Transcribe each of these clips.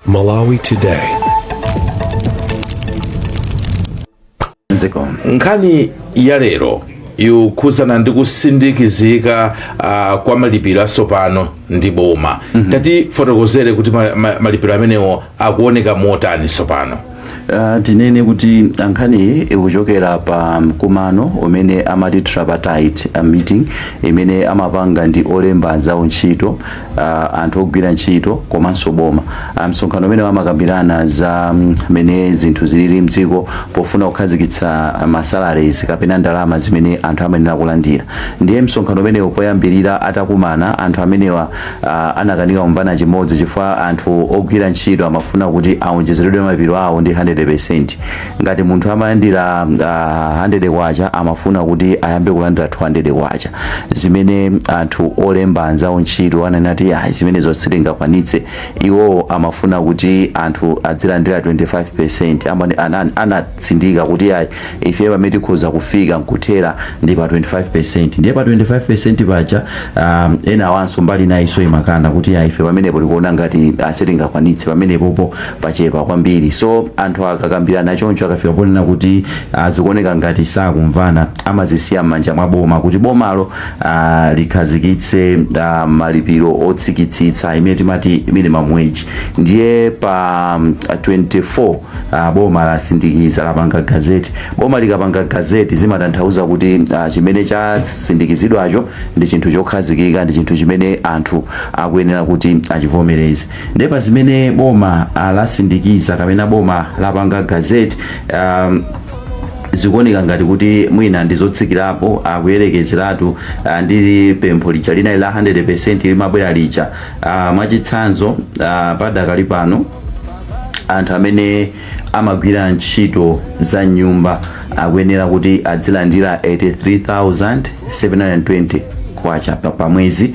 Malawi Today. nkhani ya lero ikukhudzana ndi kusindikizika uh, kwa malipiro atsopano ndi boma mm -hmm. tatifotokozere kuti ma, ma, malipiro amenewo akuoneka motani tsopano Uh, tinene kuti nkhaniyi ikuchokera pa mkumano umene amati tripartite uh, meeting imene amapanga ndi olemba anzawo ntchito uh, anthu ogwira ntchito komanso boma uh, msonkhano umene amakambirana za mm, mene zinthu zilili mdziko pofuna kukhazikitsa uh, masalaries kapena ndalama zimene anthu amayenera kulandira ndiye msonkhano umenewu poyambirira atakumana anthu amenewa uh, anakanika kumvana chimodzi chifukwa anthu ogwira ntchito amafuna kuti awonjezeredwe malipiro awo ndi 100% ngati munthu amalandira uh, 100 kwacha amafuna kuti ayambe kulandira 200 kwacha zimene anthu olemba anzawo ntchito ananena kuti ayi zimenezo sitingakwanitse iwowo amafuna kuti anthu adzilandira 25% anane- anane- ana tsindika kuti yayi ife pamene tikhoza kufika nkuthera ndi pa 25% ndiye pa 25% paja um, ena awanso mbali inayinso imakana kuti yayi ife pamenepo tikuona ngati sitingakwanitse pamenepopo pachepa kwambiri so anthu akakambirana choncho akafika ponena kuti ah, zikuoneka ngati sakumvana amazisiya m'manja mwa boma kuti bomalo ah, likhazikitse ah, malipiro otsikitsitsa imene timati minimum wage ndiye pa mm, 24 uh, boma lasindikiza lapanga gazeti boma likapanga gazeti zimatanthauza kuti uh, chimene chasindikizidwacho ndi chinthu chokhazikika ndi chinthu chimene anthu akuyenera kuti achivomereze ndiye pa zimene boma uh, lasindikiza kapena boma lapanga gazeti um, zikuoneka ngati kuti mwina ndizotsikirapo kuyerekezeratu ah, ndi pempho lija linali la 100 limabwera lija Ah, mwachitsanzo ah, padakali pano anthu amene amagwira ntchito za m'nyumba akuyenera kuti adzilandira 83720 kwacha pa pa mwezi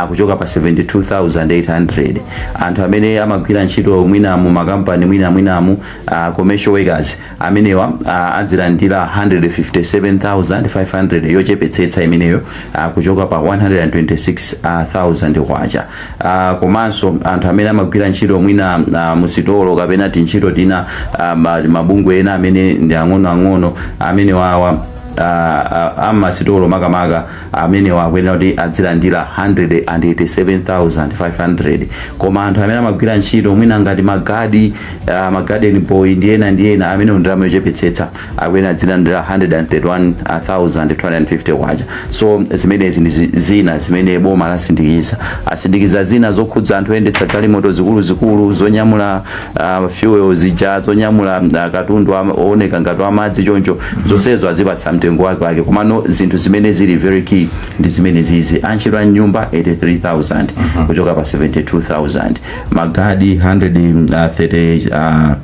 kuchoka pa 72800 anthu amene amagwira ntchito mwina mu makampani mwinamwinamu uh, commercial workers amenewa ah, adzilandira 157,500 yochepetsetsa imeneyo ah, kuchoka pa 126,000 kwacha Ah, komanso anthu amene amagwira ntchito mwina ah, musitolo kapena tintchito tina ah, ma- mabungwe ena amene ndi ang'onoang'ono amenewawa ah, ah, amasitolo makamaka amenewa akuyenera kuti azilandira 187,500 koma anthu amene amagwira ntchito mwina ngati magadi uh, magarden boy ndi ena ndi ena amene ndalama yochepetsetsa akuyenera azilandira 131,250 kwacha so zimenezi ndi zi- zina zimene boma lasindikiza asindikiza zina zokhudza anthu oyendetsa galimoto zikuluzikulu zonyamula uh, fuel zija zonyamula uh, katundu wa- ooneka ngati wamadzi choncho zonsezo azipatsa mtengo wake wake komano zinthu zimene zili very key ndi zimenezizi antchito a mnyumba 83000 kuchoka pa 72000 magadi 130 uh,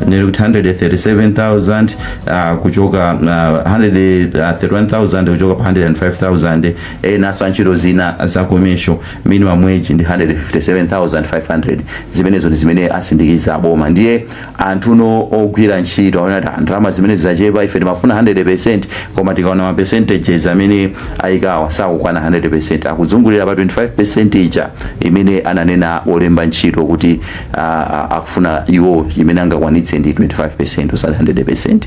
nearly 137,000 uh, kuchoka uh, 131,000 kuchoka pa 105,000 enanso antchito zina za komesho minimum wage ndi 157,500 zimenezo ndi zimene asindikiza aboma ndiye anthuno ogwira ntchito aona kuti ndalama zimene zachepa ife timafuna 100% koma tikaona ma percentages amene ayikawa sakukwana 100% akuzungulira pa 25% ija imene ananena olemba ntchito kuti ah, ah, akufuna iwo imene angakwanitse ndi 25% osati 100%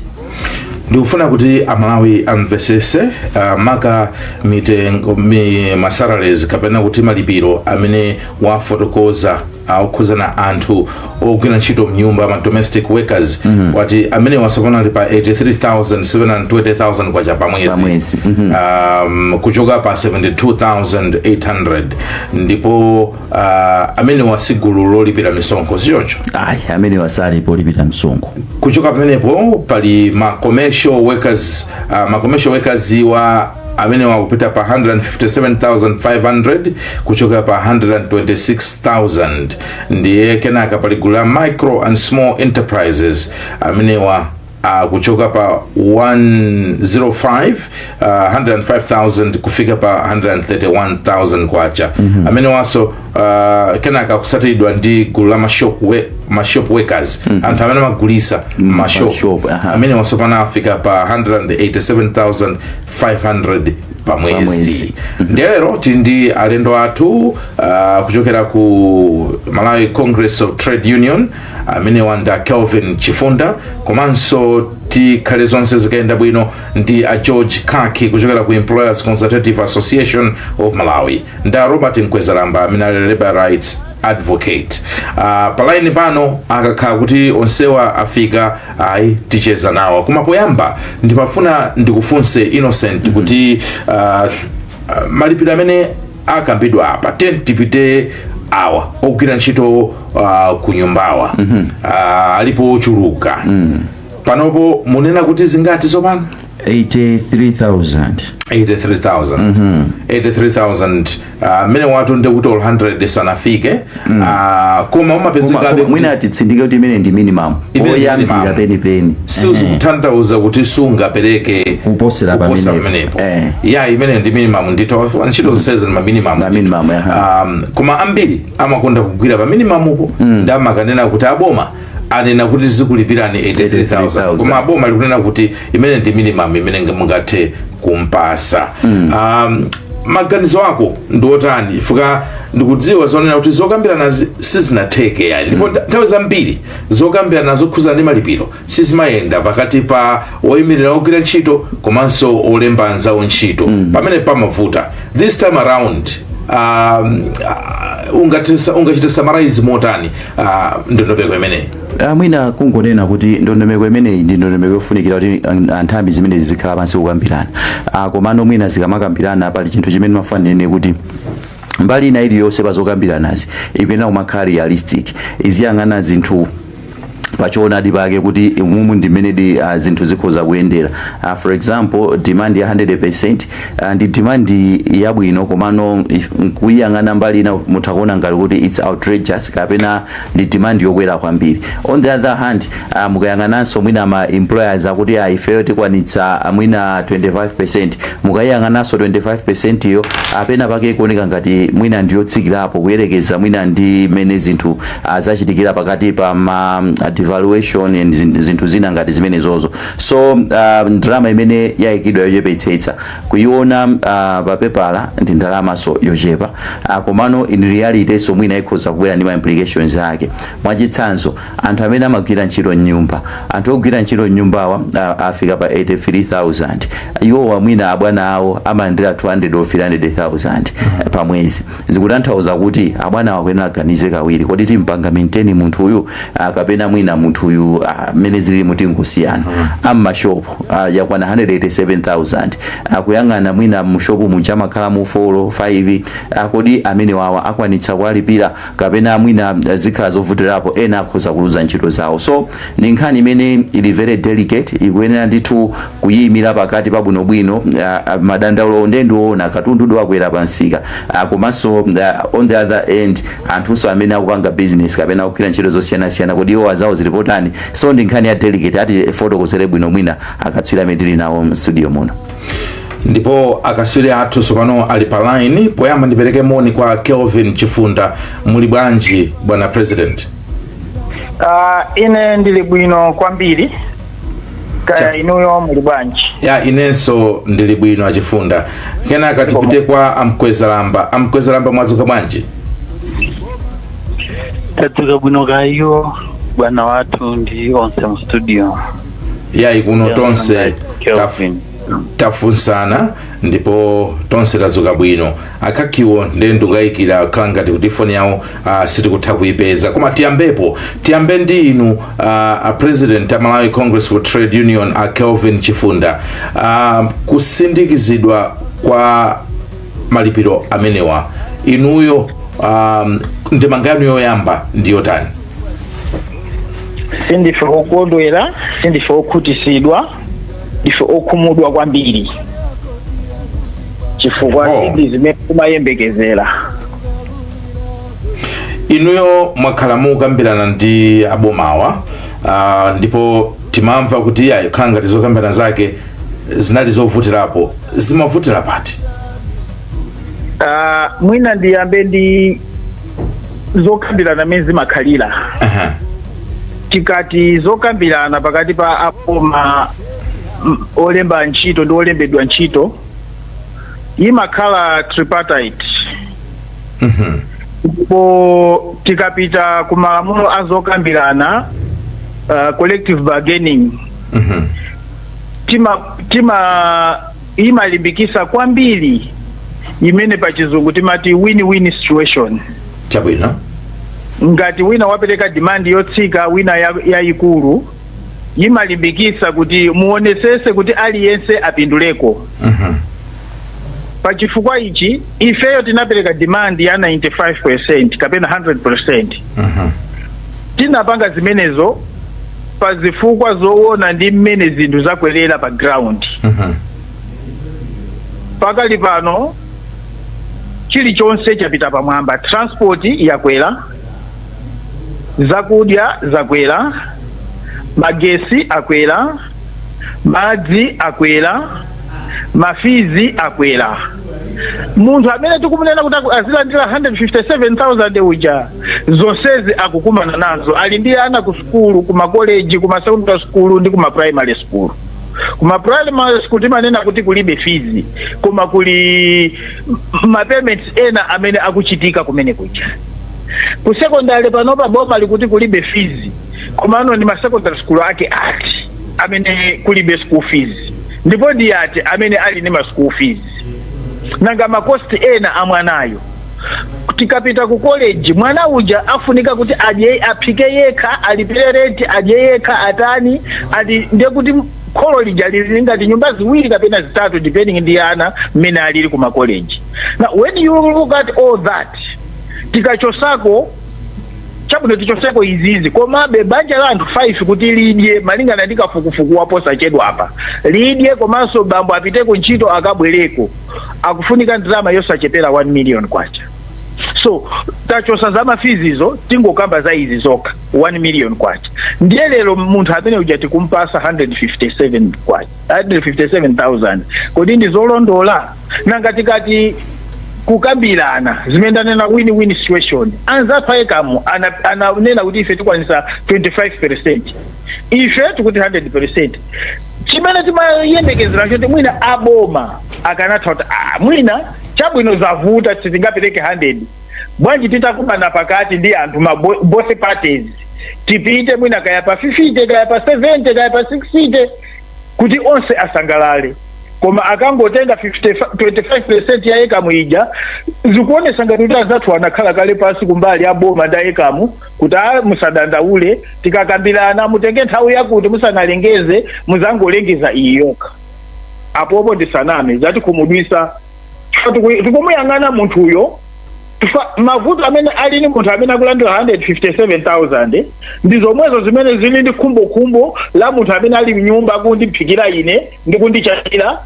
ndikufuna kuti amalawi amvetsetse uh, maka mitengo masalaries kapena kuti malipiro amene wafotokoza okhudzana anthu ogwira ntchito mnyumba ma domestic workers mm -hmm. wati amenewa tsopano ali pa 83,720 kwacha pa mwezi Pamwezi, mhm. um, kuchoka pa 72800 ndipo uh, amenewa si gulu lolipira misonkho sichoncho ayi amenewa sali polipira msonkho kuchoka pamenepo pali ma commercial workers uh, ma commercial workers wa amenewa akupita pa 157500 kuchoka pa 126000 ndiye kenaka pali gulu la micro and small enterprises amenewa uh, kuchoka pa 105 uh, 105,000 kufika pa 131,000 kwacha mm-hmm. amenewanso uh, kenaka kutsatiridwa ndi gulu la mashop, we, mashop workers mm-hmm. anthu amene amagulitsa mmashop mashop, aha. amenewa tsopano afika pa 187,500 pa mwezi mwezi. ndiye lero tili ndi alendo athu uh, kuchokera ku malawi congress of trade union amenewa ndi a kelvin chifunda komanso tikhale zonse zikayenda bwino ndi a george khaki kuchokera ku employers consultative association of malawi ndi a robert mkwezalamba amene ali labor rights advocate uh, pa laini pano akakhala kuti onsewa afika ayi ticheza nawo koma poyamba ndimafuna ndikufunse innocent kuti uh, uh, malipiro amene akambidwa apa tiyeni tipite awa ogwira ntchito uh, ku nyumbawa mm -hmm. uh, alipo ochuluka mm. panopo munena kuti zingati tsopano 83000 83000 mm -hmm. 83000 mmene uh, wa- ndiye kuti 100 sanafike mm. uh, koma umapezekabe mwina titsindike kuti imene ndi minimum yoyambira penipeni sizikutanthauza kuti sungapereke kuposera pamenepo eh. ya imene ndi minimum ndipo ntchito zonse zili ndi minimum ma minimum um, koma ambiri amakonda kugwira pa minimamupo mm. ndi amakanena kuti aboma anena kuti tizikulipirani 83000 koma boma likunena kuti imene ndi minimum imene nge- mungathe kumpasa um, maganizo ako ndi otani chifukwa ndikudziwa zonena kuti zokambirana zi- sizinatheke ayi ndipo nta- nthawi zambiri zokambirana zokhuza ndi malipiro sizimayenda pakati pa oyimirira ogwira ntchito komanso olemba anzawo ntchito pamene pamavuta this time around um, uh, ungachita summarize motani ah, ndondomeko imeneyi Ah, mwina kungonena kuti ndondomeko imeneyi ndi ndondomeko yofunikira kuti an- anthambi zimenezi zizikhala pansi kukambirana Ah, komano mwina zikamakambirana pali chinthu chimene ndimafuna ndinene kuti mbali ina iliyonse pa zokambiranazi ikuyenera kumakhala realistic iziyang'ana zinthu pachoonadi pake kuti umumu ndi mmenedi uh, zinthu zikhoza kuyendera uh, for example demand ya 100% Ah, ndi demand yabwino komano if- nkuyang'ana mbali ina mutha kuona ngati kuti its outrageous kapena ndi demand yokwera kwambiri on the other hand ah, mukayang'ananso mwina ma employers akuti ah, ifeyo tikwanitsa ah, mwina 25 mukayang'ananso 25 yo penapake ikuoneka ngati mwina ndiyotsikirapo kuyerekeza mwina ndi mene zinthu ah, zachitikira pakati pa ma ah, devaluation and zin- zinthu zina ngati zimenezozo so uh, ndalama imene yayikidwa yochepetsetsa kuiona uh, pa pepala ndi ndalamanso yochepa uh, komano in realitynso mwina ikhoza kubwera ndi ma implications ake mwachitsanzo anthu amene amagwira ntchito m'nyumba anthu ogwira ntchito m'nyumbawa uh, afika pa 83000 iwowa mwina abwana awo amalandira 200 or 300000 pa mwezi Zikutanthauza kuti abwanawa akuyenera aganize kawiri, kodi timpanga maintain munthuyu ah, kapena mwina munthuyu ah, mmene zililimu tingosiyana. A m'mashopu ah, yakwana 187,000 akuyang'ana mwina mushopu muja amakhalamo 4 olo 5 ah, kodi amenewawa akwanitsa kuwalipira kapena mwina ah, zikhala zovutirapo ena akhoza kuluza ntchito zawo. So ndi nkhani imene ili very delicate ikuyenera ndithu kuyiimila pakati pa bwinobwino madandaulowo nde ndiwoona katundudi wakwera pa msika komanso on the other end anthunso amene akupanga business kapena akugwira ntchito zosiyanasiyana kodi iwowa zawo zili potani so ndi nkhani ya delicate atifotokozere bwino mwina akatswiri amene tili nawo mstudio muno ndipo akatswiri athu tsopano ali pa line poyamba ndipereke moni kwa kelvin chifunda muli bwanji bwana president Uh, ine ndili bwino kwambiri kaya inuyo muli bwanji ya inenso ndili bwino achifunda kenaka tipite kwa amkwezalamba amkwezalamba mwadzuka bwanji tadzuka bwino kaya bwana wathu ndi onse mu studio yayi kuno tonse taf- Kelvin. tafunsana ndipo tonse tadzuka bwino akhakiwo ndiye ndikukayikira ukukhala ngati kuti foni yawo uh, sitikutha kuyipeza koma tiyambepo tiyambe ndi inu uh, a president a malawi congress for trade union a kelvin chifunda uh, kusindikizidwa kwa malipiro amenewa inuyo um, ndemanga yanu yoyamba ndi yotani sindife okondwera sindife okhutisidwa ndife okhumudwa kwambiri chifukwa Oh. si zimene timayembekezera inuyo mwakhala mukukambirana ndi abomawa ah, ndipo timamva kuti iyayi kukhala ngati zokambirana zake zinali zovutirapo zimavutira pati Ah, mwina ndiyambe ndi zokambirana mmene zimakhalira Aha. tikati zokambirana pakati pa aboma mm, olemba ntchito ndi olembedwa ntchito imakhala tripartite Mhm. ndipo tikapita ku malamulo a zokambirana uh, collective bargaining Mhm. tima tima imalimbikisa kwambiri imene pa chizungu timati win-win situation chabwino ngati wina wapereka demand yotsika wina ya- yayikulu imalimbikisa kuti muonesese kuti aliyense apinduleko Mhm. pa chifukwa ichi ifeyo tinapereka demand ya 95 kapena 100 Mhm. tinapanga zimenezo pa zifukwa zowona ndi mmene zinthu zakwerera pa ground Mhm. pakali pano chilichonse chapita pamwamba transport yakwera zakudya zakwera magesi akwera madzi akwera mafizi akwera munthu amene tikumunena kuti aku- azilandira 157000 uja zonsezi akukumana nazo ali ndi ana ku sukulu kuma college kuma secondary school ndi kuma primary school kuma primary school timanena kuti kulibe fizi koma kuli ma payments ena amene akuchitika kumene kuja ku secondary panopa boma likuti kulibe fizi komano ni ma secondary school ake ati amene kulibe school fees ndipo ndi ati amene ali ni ma school fees nanga ma cost ena a mwanayo tikapita ku college mwana uja afunika kuti aphike yekha alipire renti adye yekha atani ndiye kuti kholo lija lili ngati nyumba ziwiri kapena zitatu depending ndi ana mmene alili ku makoleji now when you look at all that tikachosako chabwino tichoseko izizi komabe banja la anthu 5 kuti lidye malingana ndi kafukufuku waposachedwapa lidye komanso bambo apite ku ntchito akabwereko akufunika ndalama yosachepera 1 million kwacha so tachosa za mafizizo tingokamba za izi zokha 1 million kwacha ndiye lero munthu amene uja tikumpasa 157 kwacha 157000 kodi ndi zolondola nanga tikati kukambirana zimene ndanena win win situation anzathu a ecam ana- ananena kuti ife tikwanisa 25 percent ife tikuti 100 percent chimene timayembekezera choti mwina aboma akanatha kuti ah, mwina chabwino zavuta sitingapereke 100 bwanji titakumana pakati ndi anthu ma bo- both parties tipite mwina kaya pa 50 kaya pa 70 kaya pa 60 kuti onse asangalale koma akangotenga 25 percent ya ecam ija zikuonesa ngati kuti anzathu anakhala kale pansi kumbali ya boma ndi a ecam kuti a musadandaule tikakambirana mutenge nthawi yakuti musanalengeze muzangolengeza iyi yokha apopo ndisaname zatikhumudwisa tikumuyang'ana munthuyo Fa- mavuto amene ali ni munthu amene akulandira 157000 ndi zomwezo zimene zili ndi khumbokhumbo la munthu amene ali mnyumba akundiphikira ine ndi kundichapira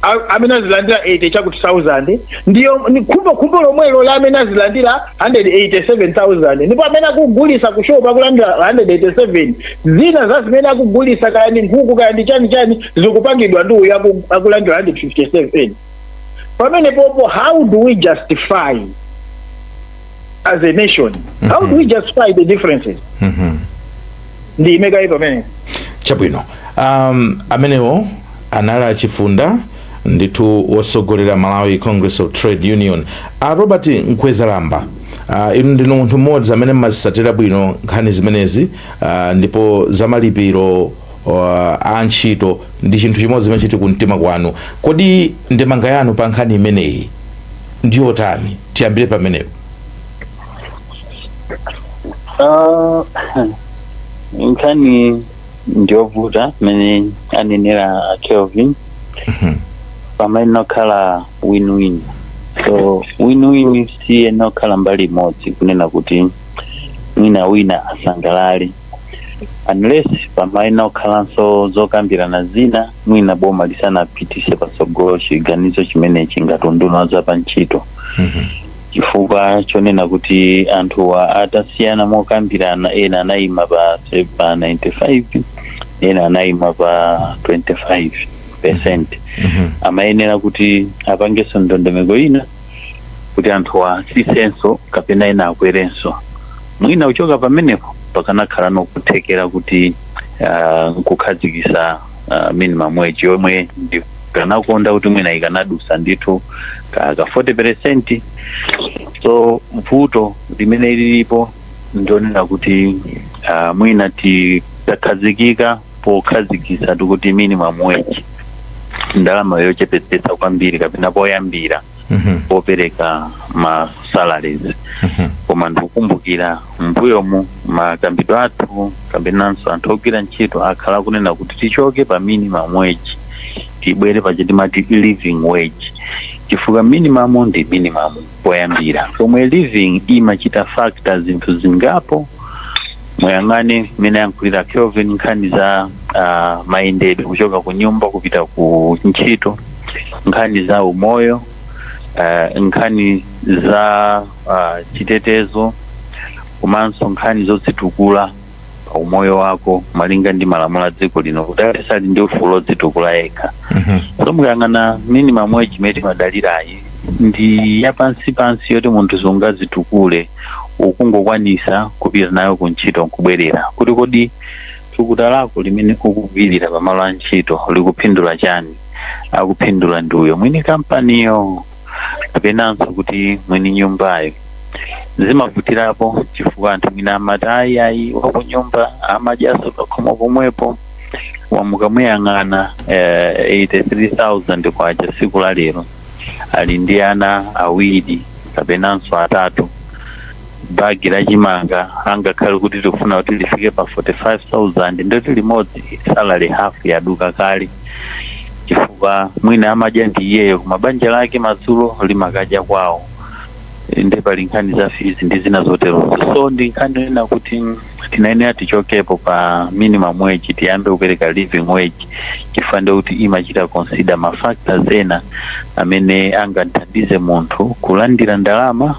a- amene azilandira 80 chakuti 1000 ndiyo ni khumbo khumbo lomwelo la amene azilandira 187000 ndipo amene akugulisa ku shop akulandira 187 zina za zimene akugulisa kaya ndi nkhuku kaya ndi chani chani zikupangidwa ndi uyo aku- akulandira 157 pamenepopo how do we justify as a nation how do we justify the differences ndiime kaye pamene chabwino um, amenewo anali a chifunda ndithu wotsogolera malawi congress of trade union a robert mkwezalamba Uh, inu ndinu munthu mmodzi amene mmazisatira bwino nkhani zimenezi uh, ndipo zamalipiro uh, a ntchito ndi chinthu chimodzi chimene chili kumtima kwanu kodi ndemanga yanu pa nkhani imeneyi ndi yotani tiyambire pamenepo Ah, nkhani ndiyovuta mmene anenera a Kelvin pamayenera kukhala win-win so win-win siyenera kukhala mbali imodzi kunena kuti mwina wina asangalale unless pamayenera kukhalanso zokambirana zina mwina boma lisanapitise patsogolo chiganizo chimenechi ngati unduna wa za pa ntchito chifukwa chonena kuti anthuwa atasiyana mokambirana ena anayima pa, pa 95 ena anayima pa 25 percent amayenera kuti apangenso ndondomeko ina kuti anthuwa atsitsenso kapena ena akwerenso mwina kuchoka pamenepo pakanakhalano kuthekera kuti ah, nkukhazikitsa ah, minimum wage yomwe ndikanakonda kuti mwina ikanadusa ndithu ka ka 40 percent so vuto limene lilipo ndi lonena kuti ah, mwina titakhazikika pokhazikitsatu kuti minimum wage ndalama yochepetsetsa kwambiri kapena poyambira Mhm. popereka ma salaries Mhm. koma ndikukumbukira mbuyomu makambidwe athu kapenanso anthu ogwira ntchito akhala akunena kuti tichoke pa minimum wage tibwere pa chi timati living wage chifukwa minimum ndi minimum poyambira pomwe living imachita factor zinthu zingapo muyang'ane mmene ayankhulira Kelvin nkhani za uh, mayendedwe kuchoka ku nyumba kupita ku ntchito nkhani za umoyo uh, nkhani za uh, chitetezo komanso nkhani zodzitukula pa umoyo wako malinga ndi malamulo a dziko lino kuti aliyense ali ndi ufulu odzitukula yekha Mhm. so mukayang'ana minimum wage imene timadalirayi ndi yapansipansi yoti munthu sungadzitukule ukungokwanitsa kupita nayo ku ntchito nkubwerera kuti kodi thukuta lako limene ukugwirira pamalo a ntchito likuphindula chani akuphindula ndi uyo mwini kampaniyo kapenanso kuti mwini nyumbayo zimavutirapo chifukwa anthu mwina amati ayi ayi wakunyumba amadyanso pakhomo pomwepo koma mukamuyang'ana eh, 83000 kwacha tsiku la lero ali ndi ana awiri kapenanso atatu Bag la chimanga angakhale kuti tikufuna kuti lifike pa 45000 ndithu limodzi salary half yaduka kale chifukwa mwina amadya ndi iyeyo koma banja lake madzulo limakadya kwawo nde pali nkhani za fees ndi zina zoterozo so ndi nkhani yonena kuti tinayenera tichokepo pa minimum wage tiyambe kupereka living wage chifukwa ndiye kuti imachita consider ma factors ena amene angathandize munthu kulandira ndalama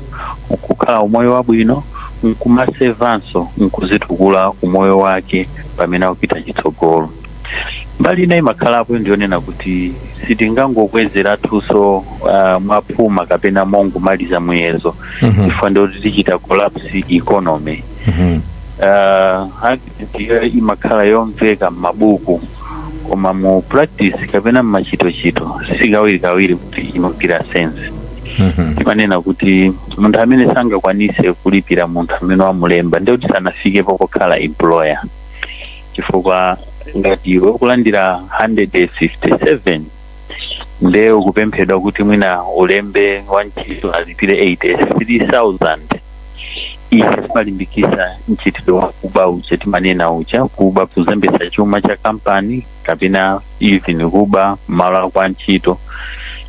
kukhala umoyo wabwino nkumasevanso nkuzitukula umoyo wake pamene akupita chitsogolo mbali ina imakhalapo ndiyonena kuti sitingangokwezeratunso uh, mwaphuma kapena mongomaliza muyezo Mhm. chifukwa ndiye kuti tichita collapse economy Mhm. uh, argument iyo imakhala yomveka m'mabuku koma mu practice kapena m'machitochito si kawirikawiri kuti imagwira sense Mhm. timanena kuti munthu amene sangakwanise kulipira munthu amene wamulemba ndiye kuti sanafikepo pokhala employer chifukwa ngati iwe ukulandira 157 nde ukupemphedwa kuti mwina ulembe wantchito alipire 83000 ife zimalimbikisa mchitidwe wa kuba uja timanena uja kuba kuzembesa chuma cha kampani kapena even kuba m'malo ako a ntchito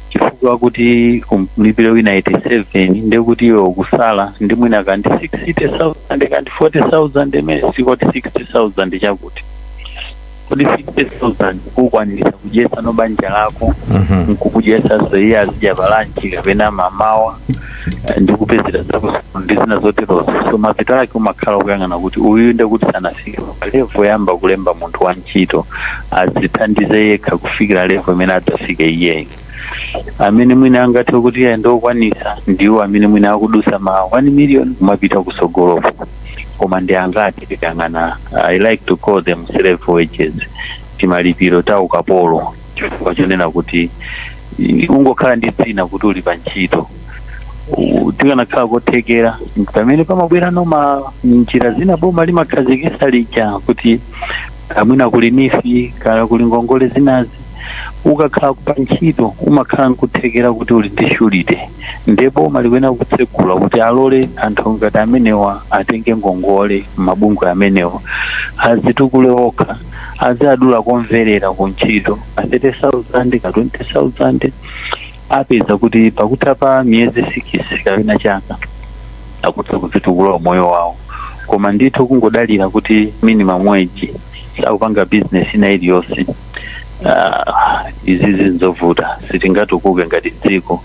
chifukwa kuti umlipire wina 87 ndekuti iwe ukusala ndi mwina kandi 60000 kandi 40000 imene sikuti 60000 chakuti kodi 50000 ukwanirisa kudyesano banja lako Mhm. nkukudyesaso iye azidya pa lunch kapena mamawa eh, ndi kupezera zako ndi zina zoterozo so mapeto ake umakhala ukuyang'ana kuti uyu nde kuti sanafike pa level yoyamba kulemba munthu wa ntchito azithandize yekha kufikira level imene adzafike iyeyo amene mwina angathe kuti ayi ndi okwanisa ndiwo amene mwina akudusa ma 1 million kumapita kusogolopo koma ndi angati tikayang'ana i like to call them slave wages timalipiro ta ukapolo chifukwa chonena kuti i- ungokhala ndi dzina kuti uli pa ntchito U- tikanakhala kothekera pamene pamabwerano ma njira zina boma limakhazikisa lija kuti kaya mwina kuli NEEF kaya kuli ngongole zinazi ukakhala pa ntchito umakhala nkuthekera kuti uli ndi surety nde boma likuyenera kutsegula kuti alole anthu ngati amenewa atenge ngongole m'mabungwe amenewa azitukule okha aziadula komverera ku ntchito ka 30000 ka 20000 apeza kuti pakutha pa miyezi sikisi kapena chaka akutha kudzitukula umoyo wawo koma ndithu kungodalira kuti minimum wage sakupanga bizinesi ina iliyonse Ah, izizi nzovuta sitingatukuke ngati dziko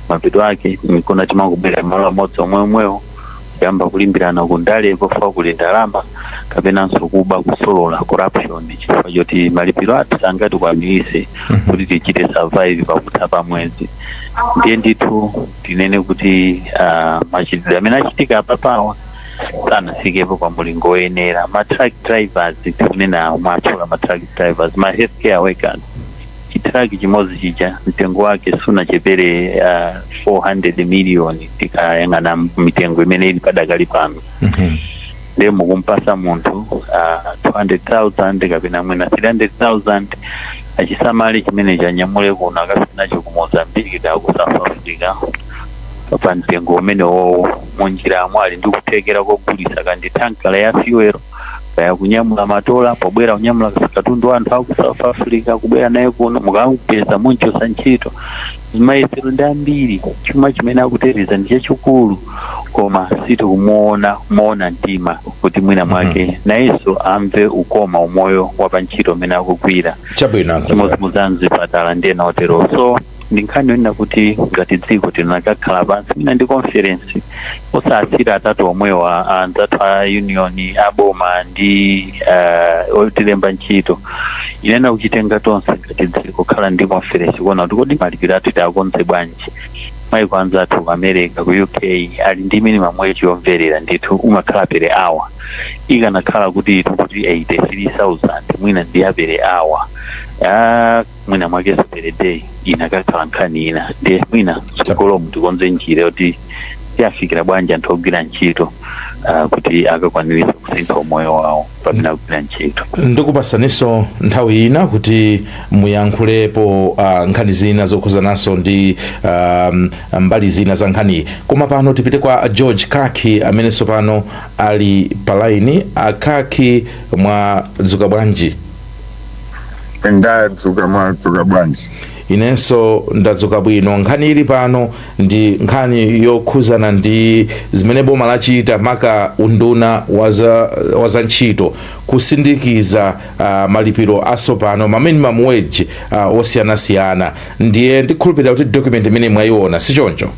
mapeto ake nkona timangobwera malo amodzi omwe omwewo kuyamba kulimbirana ku ndale pofuna kuli ndalama kapenanso kuba kusolola corruption chifukwa choti malipiro athu sangatikwaniritse kuti tichite survive pakutha pa mwezi ndiye ndithu tinene kuti ah, machitidwe amene achitika apapawa sanafikepo pa mulingo woyenera ma truck drivers tikunena mwatchula ma truck drivers ma healthcare workers chitrak chimodzi chija mtengo wake sunachepere uh, 400 million tikayang'ana mitengo imene ili padakali pano Mhm. ndiye mukumpasa munthu uh, 200,000 kapena mwina 300,000 achisamale chimene chanyamule kuno akafe nacho ku mozambiki da ku south africa pa mtengo umene wowo munjiramo ali ndi kuthekera kogulisa kandi tankala ya fuel kaya kunyamula matola pobwera kunyamula ka katundu wa anthu aku south africa kubwera naye kuno mukamupeza munchosa ntchito mayesero ndi ambiri chuma chimene akuteteza ndi chachikulu koma sitikumuona moona mtima kuti mwina mwake nayenso amve ukoma umoyo wa pa ntchito umene akugwira chabwino chimodzimodzi mzipatala ndi ena otero so ndi nkhani yonena kuti ngati dziko tinakakhala pansi mwina ndi conference osasiyira atatu omwewa anzathu a union aboma ndi uh, otilemba ntchito ndikunena kuchitenga tonse ngati dziko kukhala ndi conference kuona kuti kodi malipiro athu tiakonze bwanji maiko anzathu ku america ku uk ali ndi minimum wage yomverera ndithu umakhala per hour ikanakhala kuti itukuti 83000 mwina ndi ya per hour Ah, mwina mwakenso per day inakakhala nkhani ina ndiye mwina tsogolomu tikonze njira yoti tiyafikira bwanji anthu ogwira ntchito ah, kuti akakwaniritsa kusintha umoyo wawo pamene akugwira ntchito ndikupasaninso nthawi ina kuti muyankhulepo uh, nkhani zina zokhuzananso ndi um, mbali zina za nkhaniyi koma pano tipite kwa george kaki amenenso pano ali palaini a kaki mwadzuka bwanji ndadzuka mwadzuka bwanji inenso ndadzuka bwino nkhani ili pano ndi nkhani yokhuzana ndi zimene boma lachita maka unduna wa za, wa za ntchito kusindikiza uh, malipiro asopano ma minimum wage uh, osiyanasiyana ndiye ndikhulupirira kuti document imene mwayiona si choncho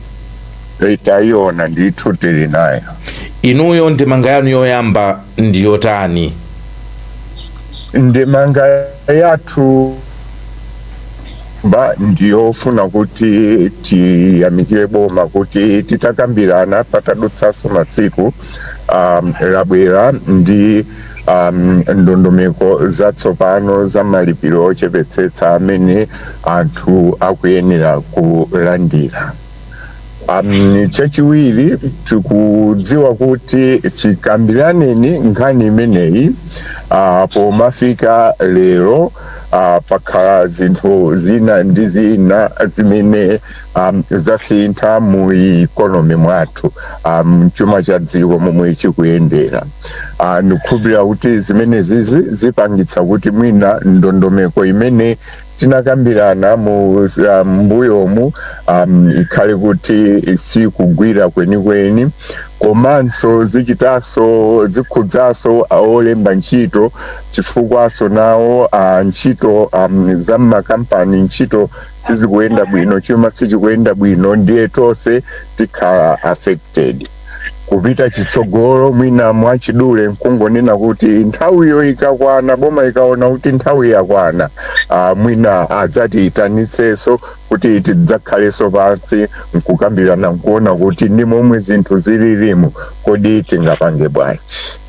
tayiona ndithu tili nayo inuyo ndemanga yanu yoyamba ndi yotani? Ndemanga yathu ba ndiyofuna kuti tiyamikire boma kuti titakambirana patadutsanso masiku um, labwera ndi um, ndondomeko zatsopano za malipiro ochepetsetsa amene anthu akuyenera kulandira Um, chachiwiri tikudziwa kuti chikambiraneni nkhani imeneyi uh, pomafika lero uh, pakhala zinthu zina ndi zina zimene um, zasintha mu ikonomi mwathu um, chuma cha dziko momwe chikuyendera uh, ndikukhulupirira kuti zimenezizi zipangitsa kuti mwina ndondomeko imene tinakambirana mu ah, mbuyomu um, ikhale kuti sikugwira kwenikweni komanso zichitaso zikhudzaso olemba ntchito chifukwaso nawo ah, ntchito um, za mmakampani ntchito sizikuyenda bwino chuma sichikuyenda bwino ndiye tonse tikhala affected kupita chitsogolo mwina mwachidule nkungonena kuti nthawiyo ikakwana boma ikaona kuti nthawi yakwana ah, mwina adzatiyitanitsenso kuti tidzakhalenso pansi nkukambirana nkuona kuti ndi momwe zinthu zililimu kodi tingapange bwanji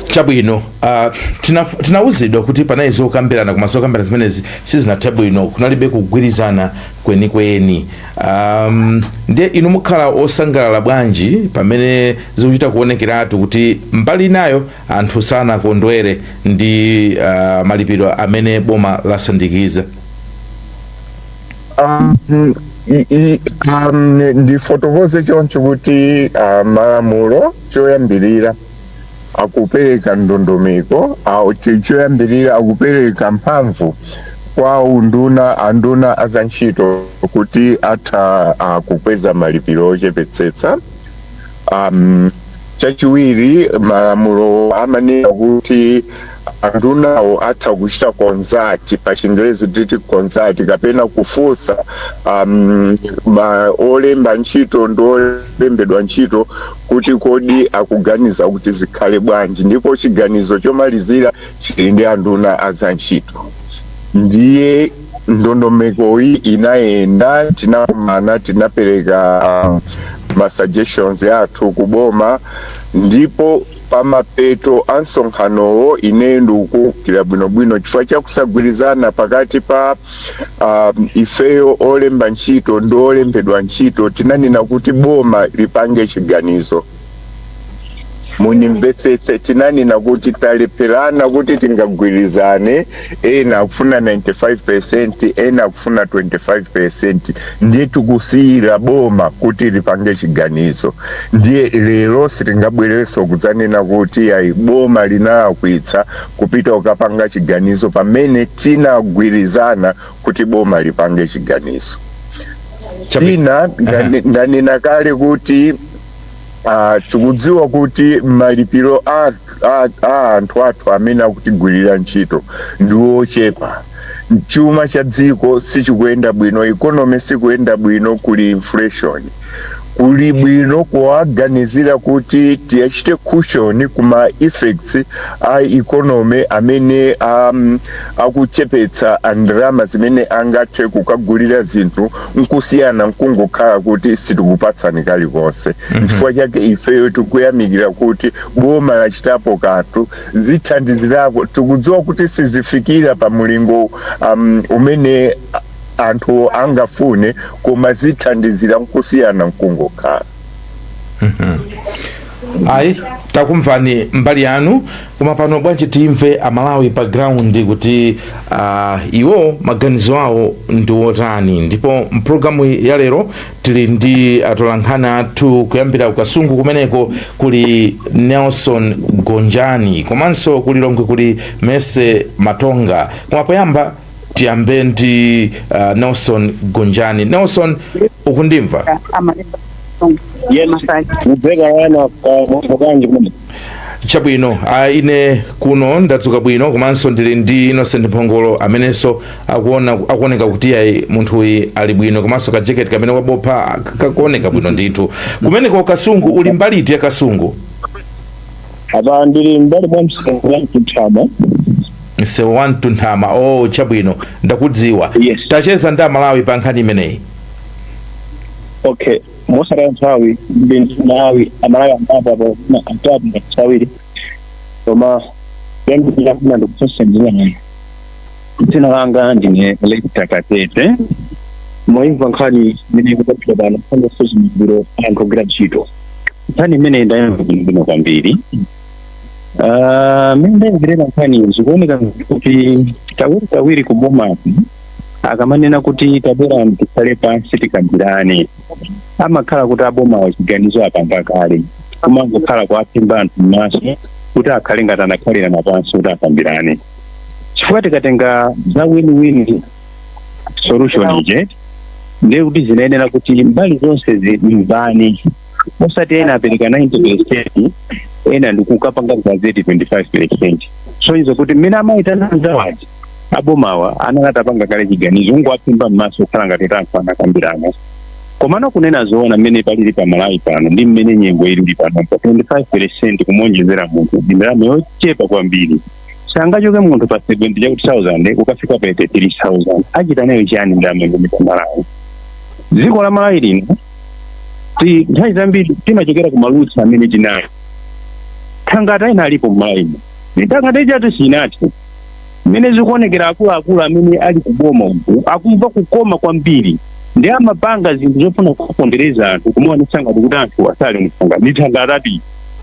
chabwino uh, tina, tinawuzidwa kuti panali zokambirana koma zokambirana zimenezi sizinathe bwino kunalibe kugwirizana kwenikweni um, ndiye inu mukhala osangalala bwanji pamene zikuchita kuonekeratu kuti mbali inayo anthu sanakondwere ndi uh, malipiro amene boma lasindikiza Um, i- i- um, ni- ndifotokoze choncho kuti uh, malamulo choyambirira akupereka ndondomeko au- cho- choyambirira akupereka mphamvu kwa unduna anduna a za ntchito kuti atha uh, kukweza malipiro ochepetsetsa Um, chachiwiri malamulo amanena kuti andunawo atha kuchita consult pa chingerezi titi consult kapena kufunsa um, ma olemba ntchito ndi olembedwa ntchito kuti kodi akuganiza kuti zikhale bwanji ndipo chiganizo chomalizira chili ndi anduna a za ntchito ndiye ndondomekoyi inayenda tinakumana tinapereka um, ma suggestions athu kuboma ndipo pamapeto a msonkhanowo ineyo ndikukumbukira bwinobwino chifukwa cha kusagwirizana pakati pa um, ifeyo olemba ntchito ndi olembedwa ntchito tinanena kuti boma lipange chiganizo mundimvetsetse tinanena kuti talepherana kuti tingagwirizane ena akufuna 95% ena akufuna 25% ndiye tikusiyira boma kuti lipange chiganizo ndiye lero sitingabwerenso kudzanena kuti ayi boma linalakwitsa kupita kukapanga chiganizo pamene tinagwirizana kuti boma lipange chiganizo Tina- ndane- ndanena kale kuti ah, tikudziwa kuti malipiro a a- a anthu athu amene akutigwirira ntchito ndi ochepa chuma cha dziko sichikuyenda bwino ikonomi sikuyenda bwino kuli inflation Kuli bwino kuwaganizira kuti tiachite cushion ku ma effects a economy amene a akuchepetsa a ndalama zimene angathe kukagulira zinthu nkusiyana nkungokhala kuti sitikupatsani kalikonse. Nchifukwa chake ifeyo tikuyamikira kuti boma lachitapo kanthu. Zithandizirako tikudziwa kuti sizifikira pa mulingo um, umene anthu angafune koma zithandizira nkusiyana nkungokhala ayi takumvani mbali yanu koma pano bwanji timve amalawi pa ground kuti uh, iwo maganizo awo ndi wotani ndipo mpulogalamu ya lero tili ndi atolankhani athu kuyambira ku Kasungu kumeneko kuli Nelson Gonjani komanso ku Lilongwe kuli Mercy Matonga koma poyamba tiyambe ndi uh, Nelson Gonjani Nelson ukundimva a Malemba mukumveka kaya mwadzuka bwanji kuno chabwino uh, ine kuno ndadzuka bwino komanso ndili ndi Innocent Mphongolo amenenso akuona akuoneka kuti ayi munthuyu ali bwino komanso kajeketi kamene wabopha kakuoneka bwino ndithu kumeneko Kasungu uli mbali iti ya Kasungu apa ndili mbali mwa msewu wa Mtunthama msewu wa Mtunthama o oh, chabwino ndakudziwa Yes. tacheza ndi amalawi pa nkhani imeneyi okay mosataya nthawi ndi nthawi amalawi ambapo apo na atatu ngati awiri koma yambira kuna ndikufunsa njira nayo dzina langa ndine Lekita Katete mwayimva nkhani imene ikupatira pano nkhani yosuzumiziro anthu ogwira ntchito nkhani imeneyi ndayimva bwino kwambiri Ah, mmene ndayimvera nkhani zikuoneka kuti kawiri kawiri kuboma akamanena kuti tabwera tikhale pansi tikambirane amakhala kuti abomawo chiganizo apanga kale kumangokhala kuwaphimba anthu m'maso kuti akhale ngati anakhalirana pansi kuti akambirane chifukwa tikatenga za win-win solution ije ndiye kuti zinayenera kuti mbali zonse zimvane osati ena apereka 90 percent ena ndikukapanga gazeti 25 percent kusonyeza kuti mmene amaitana anzawaja abomawa anali atapanga kale chiganizo kungowaphimba m'maso kukhala ngati anthu anakambirana komano kunena zoona mmene palili pa malawi pano ndi mmene nyengo ilili pano pa 25 percent kumuonjezera munthu ndi ndalama yochepa kwambiri sangachoke munthu pa 70 chakuti 1000 kukafika pa 83000 achita nayo chiyani ndalama imeneyo pa malawi dziko la malawi lino ti nthawi zambiri timachokera ku malusi amene tinayo thangata ina ilipo mmalawimu thangata ijatu sinathe mmene zikuonekera akuluakulu amene ali kuboma uku akumva kukoma kwambiri ndi amapanga zinthu zofuna kupondereza anthu kumaonetsa ngati kuti anthu asali mthangata ndi thangata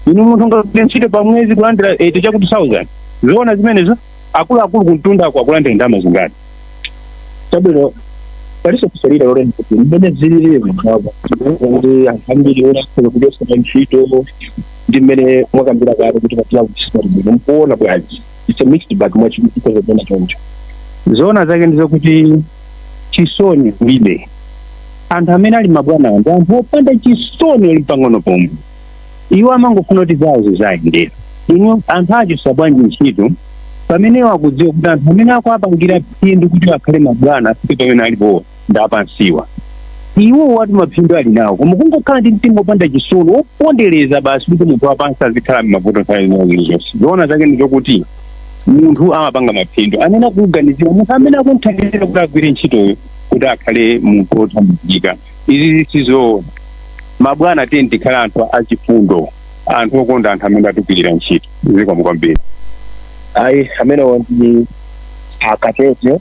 inu munthu kugwira ntchito pa mwezi kulandira 80 chakuti 1000 zoona zimenezo akuluakulu kumtundako akulandira ndalama zingati chabwino paliso kusalira loleni kuti mmene zilili kuti anthu ambiri amachotsedwa pa ntchito ndi mmene mwakambira kale kuti patira kuchita bwino mukuona bwanji it's a mixed bag mwachiyika mwapena choncho zoona zake ndi zokuti chisoni alibe anthu amene ali mabwana ndi anthu opanda chisoni ali pang'ono pomwe iwo amangofuna kuti zawo ziziwayendera inu anthu achotsa bwanji ntchito pamene iwo akudziwa kuti anthu amene akuwapangira phindu kuti akhale mabwana afike pamene alipo ndi apansiwa iwo ati maphindu ali nawo koma kungokhala ndi mtima opanda chisoni wopondereza basi kuti munthu wapansi azikhala m'mavuto nthawi zina zilizonse zoona zake ndi zokuti munthu amapanga maphindu amene akumuganizira munthu amene akumthandizira kuti agwire ntchitoyo kuti akhale munthu wothandizika izizi sizoona mabwana tiyeni tikhale anthu achifundo anthu okonda anthu amene akutigwirira ntchito zikomo kwambiri ayi amenewo ndi akatete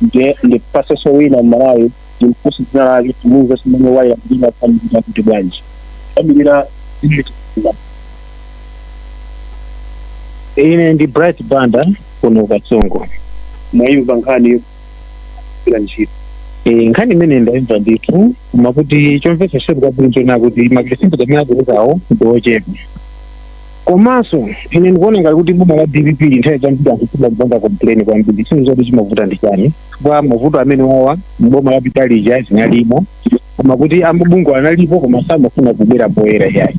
nde ndipatseso wina mmalawi ndimfunse dzina lake atiuze kumene akuimbira kuti akuimilira kuti bwanji akuimilira ine ndi bright banda kuno katsongo mwayimva nkhani ya ogwira ntchito Eh, nkhani imeneyo ndaimva ndithu koma kuti chomvetsa chisoni kwambiri nchonena kuti mapelesenti amene aperekawo ndi ochepa komanso ine ndikuona ngati kuti boma la dpp nthawi zambiri anthu akupanga complain kwambiri sindidziwa kuti chimavuta ndi chani koma mavuto amenewawa mboma lapitalija analimo koma kuti amabungwe analipo koma samafuna kubwera poyera yayi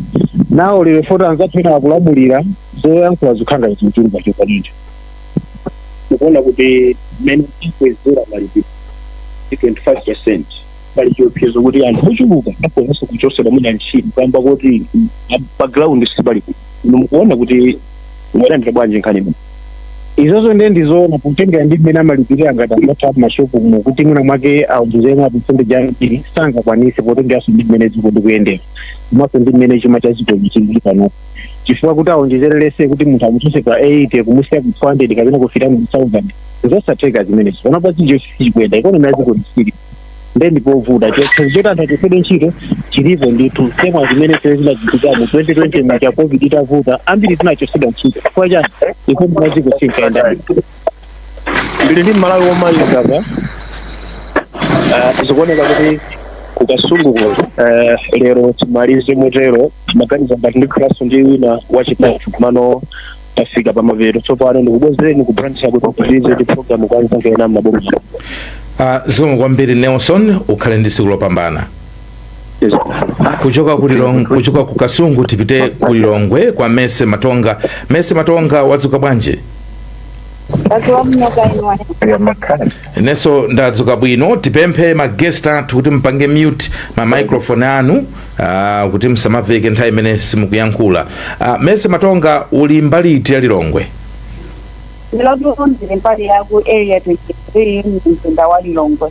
nawo lero poti anzathu ena akulamulira zoyankhula zikungochuluka chokwanito mukuona kuti mmene tikwezera malipiro ndi 25 percent pali chiopsezo kuti anthu ochuluka akhonzanso kuchotsedwa mwina ntchito kamba kuti pa ground sipali kuti inu mukuona kuti mwalandira bwanji nkhani ino izozo ndiye ndizoona kutengera ndi mmene amalipirira mabwana athu apo mashopu mu kuti mwina mwake awonjezemo ma percent ambiri sangakwanise potengeranso ndi mmene dziko likuyendera komanso ndi mmene chuma cha dzikoli chilili panopo chifukwa kuti awonjezerere kuti munthu amuchotse pa 80 kumusiya ku 200 kapena kufika mu 1000 zosatheka zimenezo panopa zinthu sizikuyenda ikonomi ya dziko ilibe nde ndipovuta chiopsezo choti anthu achotsedwe ntchito chilipo ndithu same ngati zimene zija zinachitika mu 2020 muja covid itavuta ambiri tinachotsedwa ntchito chifukwa chani ikonomi ya dziko sinkayenda ndili ndi mmalawi womaliza apa Ah, zikuoneka kuti ku Kasunguko eh, lero timalize motero ndimaganiza ngati ndikhalanso ndi wina wachitatu komano tafika pamapeto tsopano ndikubwezereni ku Blantyre kukapitiriza ndi programu kwa nzanga ena mmaboma Uh, zikomo kwambiri nelson ukhale ndi tsiku lopambana kuchoka ku Lilongwe, kuchoka ku Kasungu tipite ku Lilongwe kwa Mese Matonga. Mese Matonga, wadzuka bwanji? Inenso ndadzuka bwino, tipemphe ma guest athu kuti mpange mute ma microphone anu uh, kuti msamaveke nthawi imene simukuyankhula. Uh, Mese Matonga, uli mbali iti ya Lilongwe? Ine lero ndili mbali ya ku area 23 mzinda wa Lilongwe.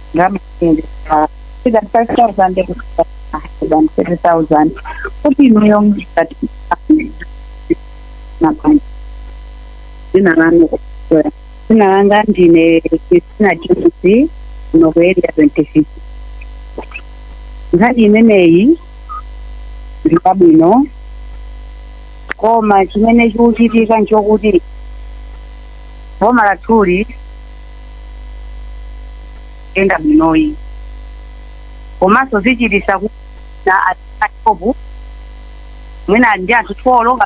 ndalama zimene zikhala either 5000 less than 30000 kuti inuyo ngati mabanja dzina lanu kapena dzina langa ndine christina james kuno ku area 26 nkhani imeneyi ndi yabwino koma chimene chikuchitika nchokuti boma lathuli yenda bwinoyi komanso zichitisa kuti ena ashopu mwina ali ndi anthu twolo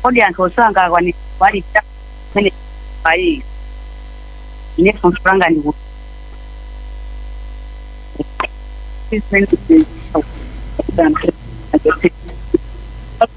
kodi anthu onse angakwanisa kuwalipira minimum pay ine funso langa ndi kuti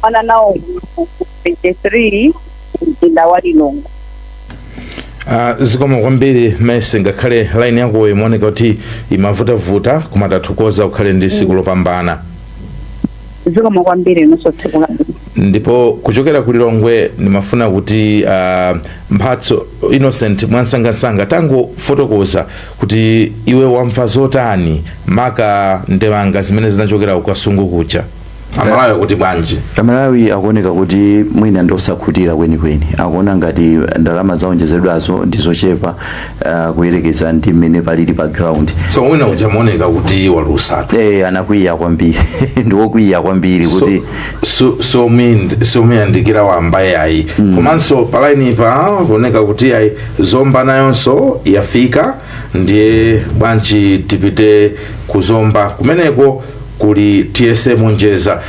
kumana nawo ku 23 mzinda wa lilongwe Uh, zikomo kwambiri mese ngakhale line yakoyo imaoneka kuti imavutavuta koma tathokoza ukhale ndi tsiku lopambana zikomo kwambiri inunso tsiku la ndipo kuchokera ku lilongwe ndimafuna kuti uh, mphatso innocent mwansangansanga tangofotokoza kuti iwe wamva zotani maka ndemanga zimene zinachokera ku kasungu kuja amalawi akuti bwanji amalawi akuoneka kuti mwina ndiosakhutira kwenikweni akuona ngati ndalama zaonjezedwazo ndizochepa uh, kuyerekeza ndi mmene palili pa ground so wina uja muoneka kuti walusatu eh anakwiya kwambiri ndiwokwiya kwambiri kuti somuyandikira wambaye ayi komanso pa lainipa kuoneka kuti ayi zomba nayonso yafika ndiye bwanji tipite ku zomba kumeneko kuli tiyese monjeza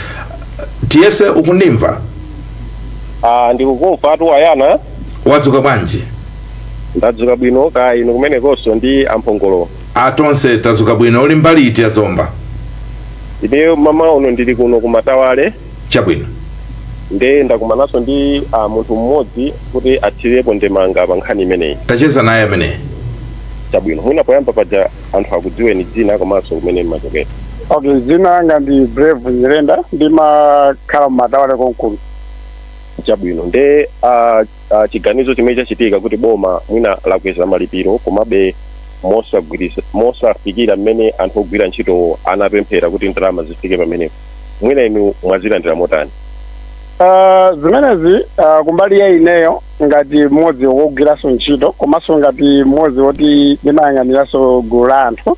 tiyese ukundimva ah, ndikukumva atuwayana wadzuka bwanji ndadzuka bwino kaya inu kumenekonso ndi amphongolo atonse tadzuka bwino uli mbali iti ya zomba ine mmawa uno ndili kuno kumatawale chabwino. nde ndakumananso ndi munthu mmodzi kuti athirepo ndemanga pa nkhani imeneyi. ticheze naye ameneyi. chabwino. mwina poyamba paja anthu akudziweni dzina komanso kumene mmachokera. okay dzina langa ndi brave nyirenda ndimakhala mmatawale konkuno. chabwino. nde a, a chiganizo chimene chachitika kuti boma mwina lakweza malipiro komabe mosagwiritsa mosafikira mmene anthu ogwira ntchitowo anapemphera kuti ndalama zifike pamenepo. mwina inu mwazilandira motani Ah, zimenezi ah, kumbali ya ineyo ngati mmodzi wogwiranso ntchito komanso ngati mmodzi woti ndimayang'aniranso gulu la anthu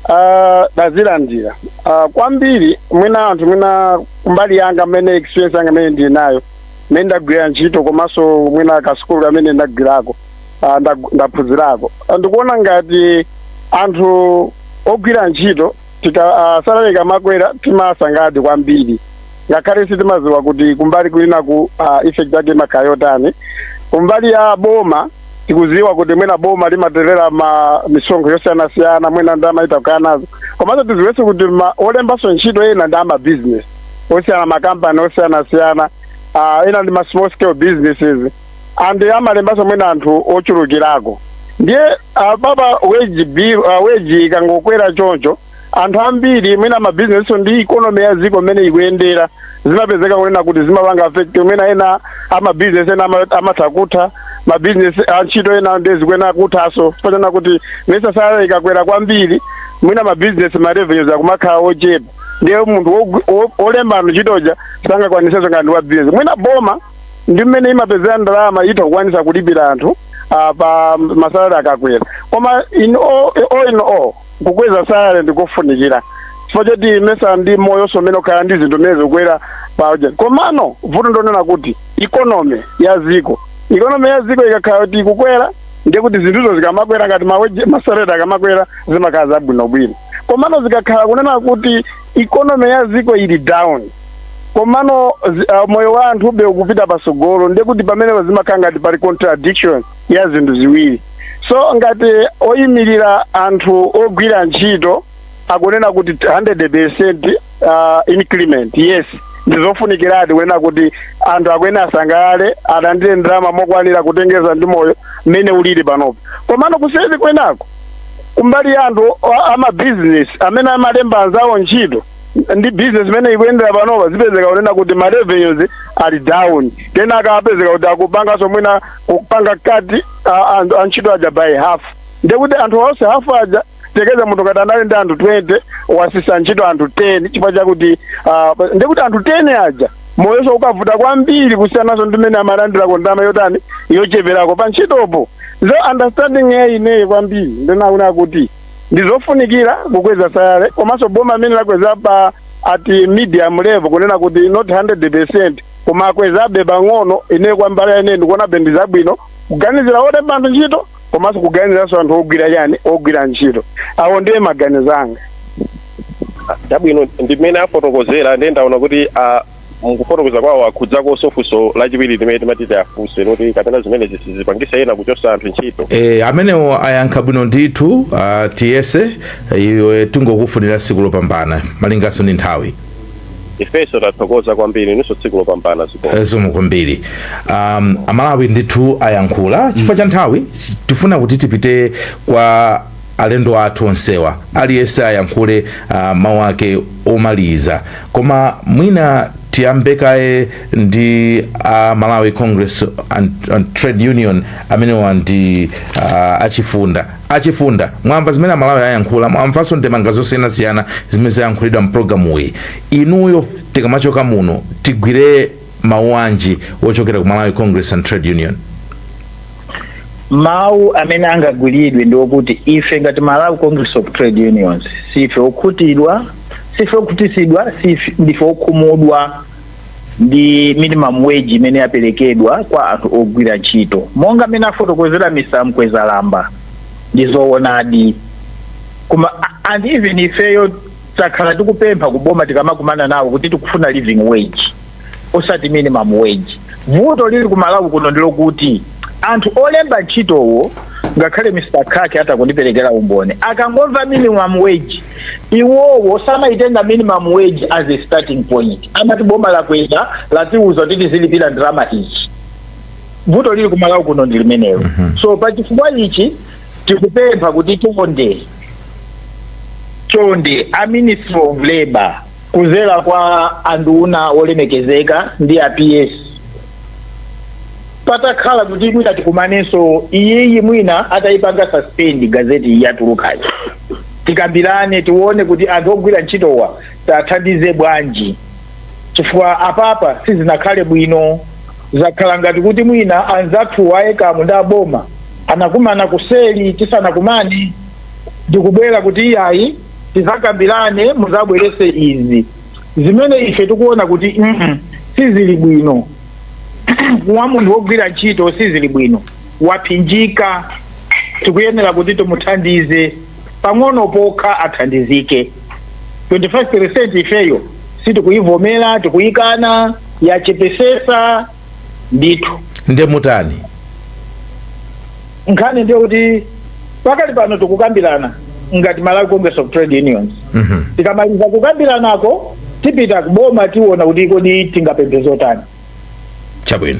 ah, ndazilandira Ah, kwambiri mwina anthu mwina kumbali yanga mmene experience yanga imene ndili nayo mmene ndagwira ntchito komanso mwina kasukulu kamene ndagwirako ah, ndag- ndaphunzirako Ah, ndikuona ngati anthu ogwira ntchito tika uh, salary ikamakwera timasangalala kwambiri ngakhale sitimadziwa kuti kumbali kwinaku uh, effect yake imakhala yotani kumbali ya boma tikuziwa kuti mwina boma limatolera ma misonkho yosiyanasiyana mwina nde amatha kukhala nazo komanso tiziwenso kuti ma- olembanso ntchito ena ndi ama business osiyana makampani osiyanasiyana uh, ena ndi ma small scale businesses and amalembanso mwina anthu ochulukirako ndiye apapa wage bill uh, wage ikangokwera choncho anthu ambiri mwina mabizinesi ndi ikonomi ya dziko mmene ikuyendera zimapezeka kunena kuti zimapanga affect mwina ena amabizinesi ena ama- amatha kutha mabizinesi antchito ena nde zikuyenera kuthanso chifukwa kuti mesa salary ikakwera kwambiri mwina mabizinesi ma revenues akumakhala ochepa ndiye munthu wogu- wo- wolemba anthu ntchito uja sangakwanitsenso ngati wa business mwina boma ndi mmene imapezera ndalama itha kukwanisa kulipira anthu ah, pa masalari akakwera koma in all, all in all kukweza salari ndikofunikira chifukwa choti mesa ndi moyo so mmene ukukhalira ndi zinthu mmene zikukwera pa ujeni komano vuto ndi lonena kuti ikonomi ya ziko ikonomi ya ziko ikakhala kuti ikukwera ndiye kuti zinthuzo zikamakwera ngati ma wage masalari akamakwera zimakhala zabwinobwino komano zikakhala kunena kuti economy ya dziko ili down komano zi- ah, moyo wa anthu be ukupita pasogolo ndiye kuti pamenepo zimakhala ngati pali contradiction ya zinthu ziwiri so ngati oyimirira anthu ogwira ntchito akunena kuti 100% uh, increment yes ndizofunikiradi kunena kuti anthu akuyenera asangalale alandire ndalama mokwanira kutengeza ndi moyo mmene ulili panopo komano kuseri kwenako kumbali ya anthu a- a mabizinesi amene amalemba anzawo ntchito ndi bizinesi mmene ikuyendera panopa zipezeka kunena kuti ma revenues ali down kenaka akapezeka kuti akupanganso mwina kupanga cut a- anthu a ntchito aja by half ndekuti anthu onse half aja tiyerekeze munthu ngati anali ndi anthu 20 watsitsa ntchito anthu 10 chifukwa chakuti ah, ndekuti anthu 10 aja moyonso ukavuta kwambiri kusiyananso ndi mmene amalandirako ndalama yotani yocheperako pa ntchitopo so understanding ya ineyi kwambiri ndinaona kuti ndizofunikira kukweza salary komanso boma mmene lakweza pa at medium level kunena kuti not 100 percent koma akwezabe pang'ono ineyi kumbali ya ine ndikuonabe ndizabwino kuganizira olemba anthu ntchito komanso kuganiziranso anthu ogwira chani ogwira ntchito awo ndiye maganizo anga chabwino ndi mmene afotokozera ndiye ndaona kuti ah, mukufotokoza kwawo akhudzakonso funso lachiwiri limene timati tiwafunse loti kapena zimene zisizipangisa ena kuchotsa anthu ntchito E, amenewo ayankha bwino ndithu uh, tiyese iwe tingokufunira tsiku lopambana malinganso ndi nthawi ifenso tathokoza kwambiri inunso tsiku lopambana zikomo Eh, zikomo kwambiri um, amalawi ndithu ayankhula chifukwa cha nthawi tifuna kuti tipite kwa alendo athu onsewa aliyense ayankhule uh, mawu ake omaliza koma mwina tiyambe kaye ndi uh, malawi congress and, and trade union amenewa ndi uh, achifunda achifunda mwamva zimene amalawi ayankhula mwamvanso ndemanga zosiyanasiyana zimene zayankhulidwa mpulogalamuyi inuyo tikamachoka muno tigwire mawu anji wochokera ku malawi congress and trade union mawu amene angagwiridwe ndi okuti ife ngati malawi congress of trade unions sife okhutidwa sife okhutisidwa ndife okhumudwa ndi minimum wage imene yaperekedwa kwa anthu ogwira ntchito monga mmene afotokozera mr mkwezalamba ndi zoonadi koma a- and even ifeyo takhala tikupempha kuboma tikamakumana nawo kuti tikufuna living wage osati minimum wage vuto lili ku malawi kuno ndilokuti anthu olemba ntchitowo ngakhale mr khaki atha kundiperekera umboni akangomva minimum wage Iwowo samayitenga minimum wage as a starting point. Amati boma lakweza latiuza kuti tizilipira ndalama izi. Vuto lili ku Malawi kuno ndi limenelo. Mm -hmm. So pa chifukwa ichi tikupempha kuti chonde chonde a Ministry of Labor kuzera kwa anduna wolemekezeka ndi a PS patakhala kuti mwina tikumanenso iyiyi mwina atayipanga suspend gazeti yatulukayi tikambirane tione kuti anthu ogwira ntchitowa tathandize bwanji chifukwa apapa sizinakhale bwino zakhala ngati kuti mwina anzathu a ECAM ndi aboma anakumana kuseli tisanakumane ndikubwera kuti iyayi tizakambirane muzabwerese izi zimene ife tikuona kuti mm sizili bwino wa munthu wogwira ntchito sizili bwino waphinjika tikuyenera kuti timuthandize pang'ono pokha athandizike 25% ifeyo sitikuyivomera tikuyikana yachepesesa ndithu nde mutani nkhani ndi yakuti pakali pano tikukambirana ngati malawi congress of trade unions Mhm. tikamaliza kukambiranako tipita kuboma tiona kuti kodi tingapemphe zotani chabwino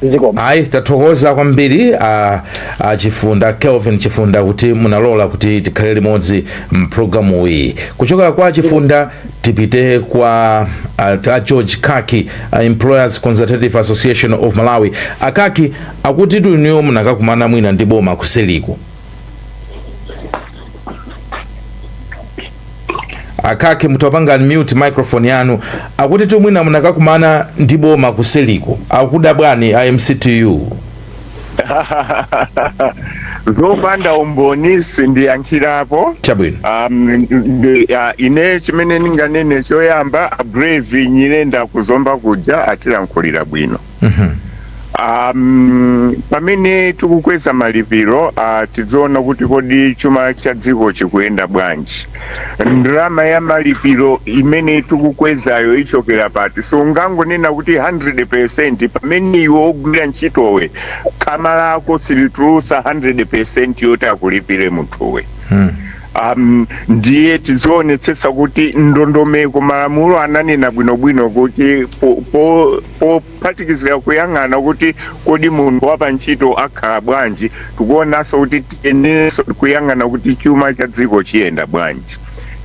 zikomo ayi tathokoza kwambiri a, a chifunda kelvin chifunda kuti munalola kuti tikhale limodzi mpulogalamu iyi kuchokera kwa a chifunda tipite kwa a, a george khaki a employers consultative association of malawi a khaki akutitu inuyo munakakumana mwina ndi boma kuseliku a khaki mutapanga unmute microphone yanu akutitu mwina munakakumana ndi boma kuseliko akudandaula a mctu zopanda umboni sindiyankhirapo chabwino um, ndi- ah, ine chimene ndinganene choyamba brave nyirenda ku zomba kuja atilankhulira bwino Um, pamene tikukweza malipiro uh, tidziona kuti kodi chuma cha dziko chikuyenda bwanji ndalama ya malipiro imene tikukwezayo ichokera pati so ungangonena kuti 100% pamene iwe wogwira ntchitowe khama lako silitulusa 100% yoti akulipire munthuwe um, ndiye tizionetsetsa kuti ndondomeko malamulo ananena bwinobwino kuti po, po pophatikizira kuyang'ana kuti kodi munthu wapantchito akhala bwanji tikuonanso kuti tiyenerenso kuyang'ana kuti chuma cha dziko chiyenda bwanji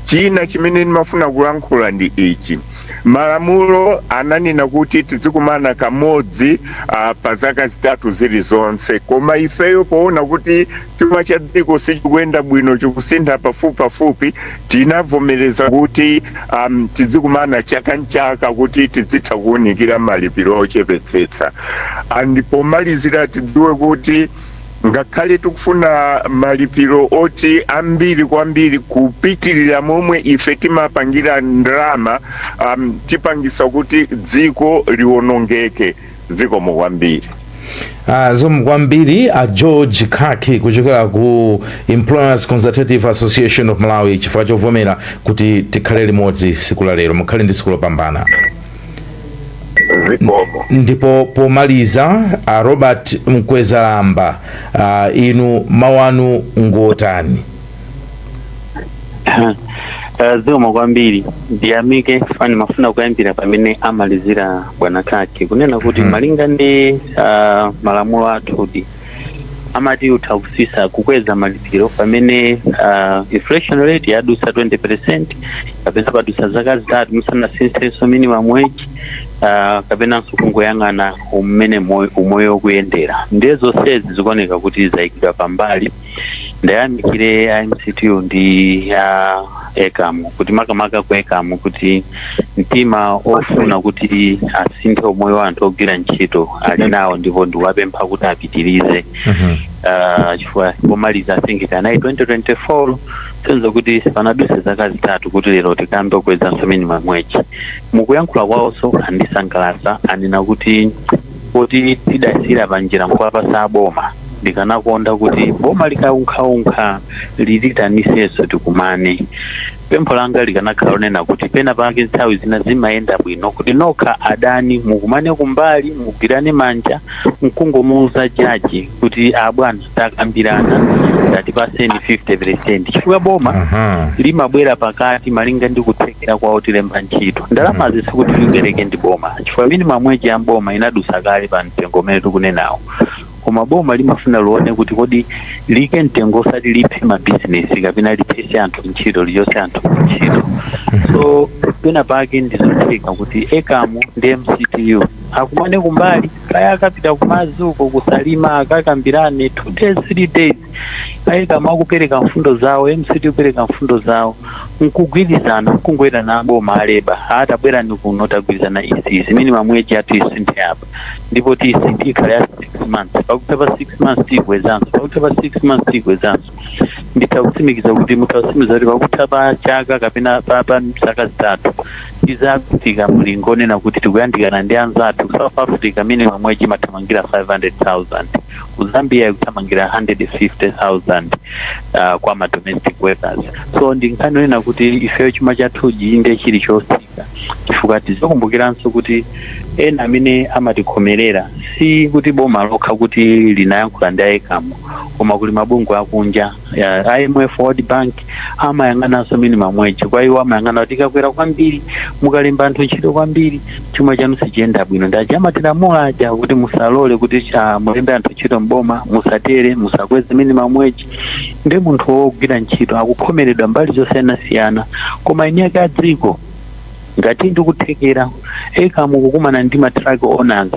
china chimene ndimafuna kulankhula ndi ichi malamulo ananena kuti tidzikumana kamodzi uh, pa zaka zitatu zilizonse koma ifeyo poona kuti chuma cha dziko sichikuyenda bwino chikusintha pafupipafupi tinavomereza kuti um, tidzikumana chaka nchaka kuti tidzitha kuwunikira malipiro ochepetsetsa ndipo pomalizira tidziwe kuti ngakhale tikufuna malipiro oti ambiri kwambiri kupitirira momwe ife timapangira ndalama um, tipangisa kuti dziko liwonongeke zikomo kwambiri Ah, zikomo kwambiri a george khaki kuchokera ku employers consultative association of malawi chifukwa chovomera kuti tikhale limodzi tsiku la lero mukhale ndi tsiku lopambana zikomo ndipo pomaliza a robert mkwezalamba ah, inu mawu anu ngotani Eh, zikomo kwambiri ndiyamike funny ndimafuna kuyambira pamene amalizira bwana khaki kunena kuti Mhm. malinga ndi ah, malamulo athudi amati utha kusintha kukweza malipiro pamene ah, inflation rate yadutsa 20 percent kapena padutsa zaka zitatu musanasinthenso minimum wage ah, kapenanso kungoyang'ana mmene moyo- umoyo ukuyendera ndiye zonsezi zikuoneka kuti zayikidwa pambali ndayamikire a mctu ndi a ecam kuti makamaka ku ecam kuti mtima ofuna kuti asinthe umoyo wa anthu ogwira ntchito ali nawo ndipo ndiwapempha kuti apitirize Ah, chifukwa pomaliza I think kanali 2024 sense ya kuti sipanaduse zaka zitatu kuti lero tikambe kukwezanso minimum wage mukuyankhula kwawonso andisangalasa anena kuti kuti tidasiyira panjira nkuwapasa aboma ndikanakonda kuti boma likaunkhaunka litiitanisenso tikumane pempho langa likanakhala lonena kuti pena pake nthawi zina zimayenda bwino kuti nokha adani mukumane kumbali mugwirane manja nkungomuuza jaji kuti abwana takambirana tatipaseni 50 percent chifukwa boma Aha. limabwera pakati malinga ndi kuthekera kwa otilemba ntchito ndalamazi sikuti lipereke ndi boma chifukwa minimum wage ya boma inadusa kale pa mtengo umene tikunenawo koma boma limafuna lione kuti kodi liike mtengo osati liphe mabizinesi kapena liphese anthu ntchito lichose anthu ku ntchito so pena pake ndizotheka kuti ecam ndi mctu akumane kumbali kaya akapita kumadzi uko ku salima akakambirane two days three days a ecam akupereka mfundo zawo mctu kupereka mfundo zawo nkugwirizana nkungowaitana aboma aleba atabwerani kuno tagwirizana izi minimum wage yathu isinthe apa ndipo tiyisinthe ikhale ya six months pakutha pa six months tiyikwezanso pakutha pa six months tiyikwezanso nditha kutsimikiza kuti nditha kutsimikiza kuti pakutha pa chaka kapena pa pa zaka zitatu tizafika mulingo onena kuti tikuyandikana ndi anzathu ku south africa minimum wage imathamangira 500000 ku zambia ikuthamangira 150000 uh, kwa ma domestic workers so ndi nkhani onena kuti ifeyo chuma chathuji inde chili chotsika chifukwa tizakumbukiranso kuti ena amene amatikhomerera si kuti boma lokha kuti linayankhula ndi a ECAM koma kuli mabungwe akunja ya imf world bank amayang'ananso minimum wage kwa iwo amayang'ana kuti ikakwera kwambiri mukalemba anthu ntchito kwambiri chuma chanu sichiyenda bwino nde amatilamula aja kuti musalole kuti ah, mulembe anthu ntchito mboma musatere musakweze minimum wage nde munthu wogwira ntchito akukhomeredwa mbali zosiyanasiyana koma eni ake a dziko ngati ndikuthekera ECAM kukumana ndi ma truck owners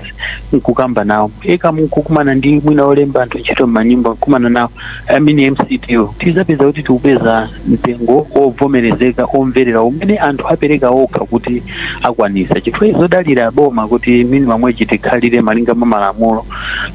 nkukamba nawo ECAM nkukumana ndi mwina olemba anthu ntchito m'manyumba nkukumana nawo a MCTU tizapeza kuti tikupeza mtengo wovomerezeka omverera umene anthu apereka okha kuti akwanisa chifukwa zodalira boma kuti minimum wage tikhalire malinga mwa malamulo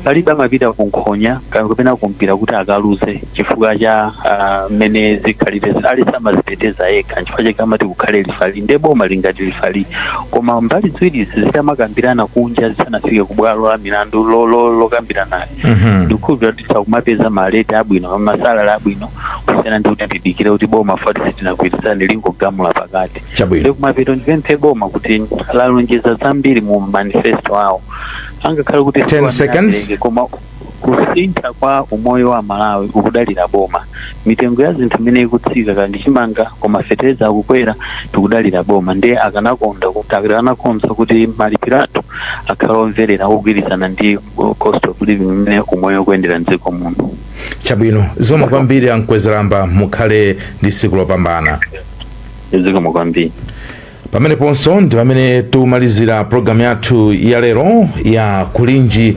palibe amapita ku nkhonya ka- kapena ku mpira kuti akaluze chifukwa cha ah, mmene zikhalire aliyense amaziteteza yekha chifukwa chake amati kukhale lifali nde boma lili ngati lifali koma mbali ziwirizi zitamakambirana kunja zisanafike ku bwalo la milandu lo- lo- lokambirana Mhm. ndikukhulupirira kuti tizakumapeza maleti abwino masalala abwino kusiyana ndi kuti tidikire kuti boma poti sitinagwirizane lingogamula pakati Chabwino. ndikumapeto ndipemphe boma kuti lalonjeza zambiri mu manifesto awo angakhale kuti 10 sawona seconds. abereke, koma kusintha kwa umoyo wa amalawi ukudalira boma mitengo ya zinthu imene ikutsika ndi chimanga koma fetereza akukwera tikudalira boma ndiye akanakonda kuti akanakonza kuti malipiro athu akhale omverera ogwirizana ndi uh, cost of living imene umoyo ukuyendera mdziko muno chabwino zikomo kwambiri a Mkwezalamba mukhale ndi tsiku lopambana zikomo kwambiri pameneponso ndi pamene tikumalizira programu yathu ya lero ya kulinji